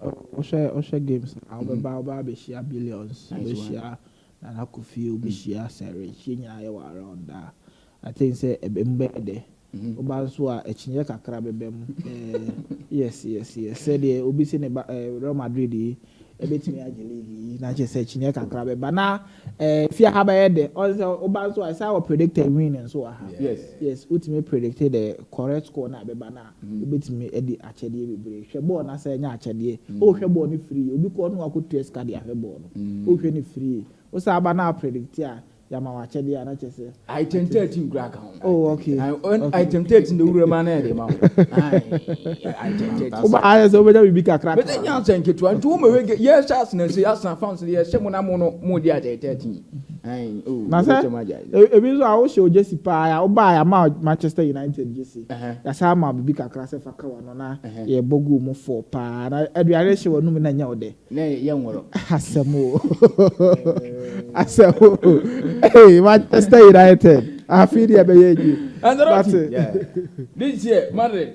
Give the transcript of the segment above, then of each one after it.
Wohwɛ wohwɛ games no a wobɛba a wobɛba abɛhyia Billions, wobɛhyia Nana Kofi, wobɛhyia Sir Richie nyinaa yɛ wɔ around a, I think sɛ ɛbɛ mu bɛyɛ dɛ. Woba nso a akyinnyeɛ kakra bɛba mu. Yes yes yes sɛdeɛ obi se ne ba eh, Real Madrid yi ɛbɛtumi agye league yi na kyerɛ sɛ akyinnyeɛ kakra bɛba na eh, fie ha bɛyɛ dɛ. Ɔne sɛ woba nso a ɛsɛ a wɔ predict a win nso wɔ ha. Yes. Yes wotumi predict the correct score no a ɛbɛba no a. Wobɛtumi adi akyɛdeɛ bebree. Hwɛ bɔɔl na sɛ ɛnyɛ akyɛdeɛ. O hwɛ bɔɔl no firii. Obi kɔ no akɔtua sika de ahwɛ bɔɔl no. O hwɛ no firii. Wo san ba na a predict a yɛama wo akyɛdeɛ a na kyerɛ sɛ. Item thirteen koraa ka ho. Oh okay. Okay. Item thirteen deɛ wura mu a na yɛde ma wo. Item thirteen. Woba ayɛ sɛ wobɛnya biribi kakra. Bɛsɛ nya sɛ nketewa nti wo mɛhwɛ yɛhyɛ asenase asan fans no yɛhyɛ mo na mo no mo di item thirteen. Na sɛ ebi nso a wohyɛ ogyesi paa a wobae ama Manchester United gyesi. Yɛasan ama wo biribi kakra sɛ fa ka w'ano na yɛbɔ guu mu fɔɔ paa na aduane no hyɛ w'anom mu na ɛnyɛ wo dɛ. Na ɛyɛ nworo. Asɛm o. Asɛm o. Hey, Manchester United. Afei deɛ ɛbɛyɛ yie. Ancelotti. But. This year, Madrid.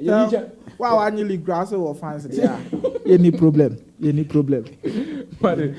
Sɛ wo a w'anyi league koraa sɛ wowɔ fans deɛ a, yɛnni problem, yɛnni problem. Pade,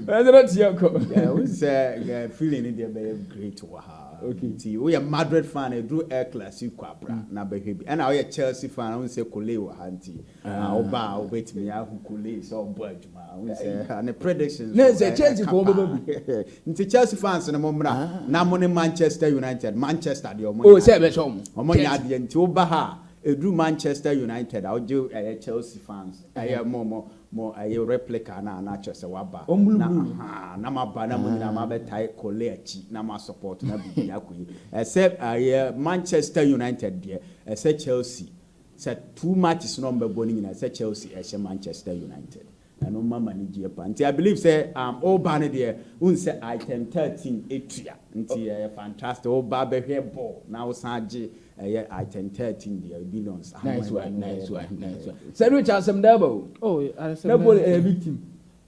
ɛnde na tia kɔ. Yeah, wo sɛ eh, feeling no deɛ bɛyɛ great wɔ ha. Okay. Nti woyɛ Madrid fan a, ɛduru El Clasico a bra mm. na bɛhwɛ bi. Ɛna woyɛ Chelsea fan a, wo sɛ Kole wɔ ha nti, ah. ah, woba a wobɛtumi ahu Kole sɛ ɔbɔ adwuma. Ne sɛ Chelsea fo bɛba bi. Nti Chelsea fans no mo mmra na mo ne Manchester United Manchester deɛ ɔmo. Oh sɛ bɛsɔ ɔmo. Ɔmo nyɛ adeɛ nti woba ha a ɛduru Manchester United a wogye ɛyɛ Chelsea fans ɛyɛ mo mo mo ɛyɛ replica no a na kyerɛ sɛ waba. Wɔn blue blue no. Ahaa na mo aba na mo nyinaa mo abɛtae Kole akyi na mo asupɔt na biribi akɔ yi. Ɛsɛ ɛyɛ Manchester United deɛ ɛsɛ Chelsea Sɛ two matches na ɔmo bɛ bɔ no nyinaa sɛ Chelsea ɛhyɛ Manchester United na ɛno ma ma ne gyeɛ paa nti I believe sɛ um, wo ba no deɛ wohu sɛ item thirteen ɛtua nti ɛyɛ fantastic wo ba bɛhwɛ bɔɔl na wo san gye ɛyɛ item thirteen deɛ billions Nice one, nice one, nice one. Sɛ no kyɛ asɛm da aba o. Oh, asɛm Na da bol aba. ɛyɛ big team.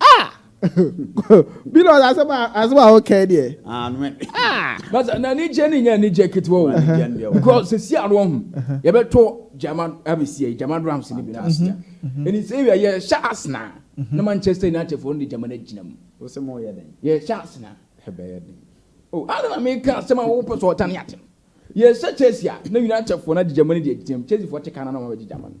Ah! Billions asɛm a asɛm a wokae deɛ. Ah, no ɛ. Ah! Basa na ni gye ni nya ni gye ketewa o. Because se si ano ho. Ye be to German abesi e German drums ni bi na asia. Eni se wi ye sha asna. Na Manchester United for ndi German agyina mu. Wo se mo ye den. Ye sha asna. He be ye den. Oh, ano na me ka asɛm a wo pɛ so ɔtane atem. Ye sha Chelsea a na United for na di German di agyina mu. Chelsea for te ka na na wɔn be gye German.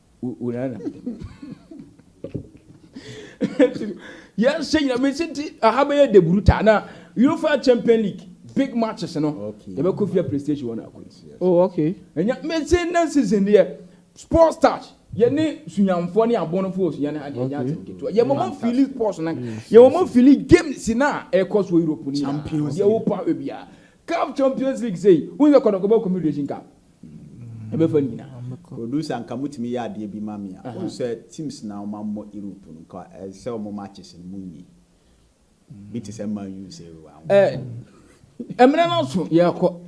yɛhyɛ nyina mesi nti aha bɛyɛ deburu ta na uefa champion league big matches no yɛbɛkɔ fia playstation wɔn akɔ oh okay ɛnya mesi na season deɛ sports touch yɛne sunyamfoɔ ne abɔnofoɔ sunya no ha deɛ ɛnya asɛm ketewa yɛ mɔmɔ fili sports no yɛ mɔmɔ fili games no a ɛkɔ so europe no nyinaa deɛ wopa wɔ biara cup champions league sei wo sɛ kɔdɔkɔbɔ confederation cup Ɛbɛfa nyina. Producer nka motumi yɛ adeɛ bi ma me a wohu sɛ teams na wɔn ammɔ Europe no nka ɛsɛ sɛ wɔn matches no mo nyi bi te sɛ Man U sei wɔ ho. Ɛɛ ɛmina no so yɛkɔ.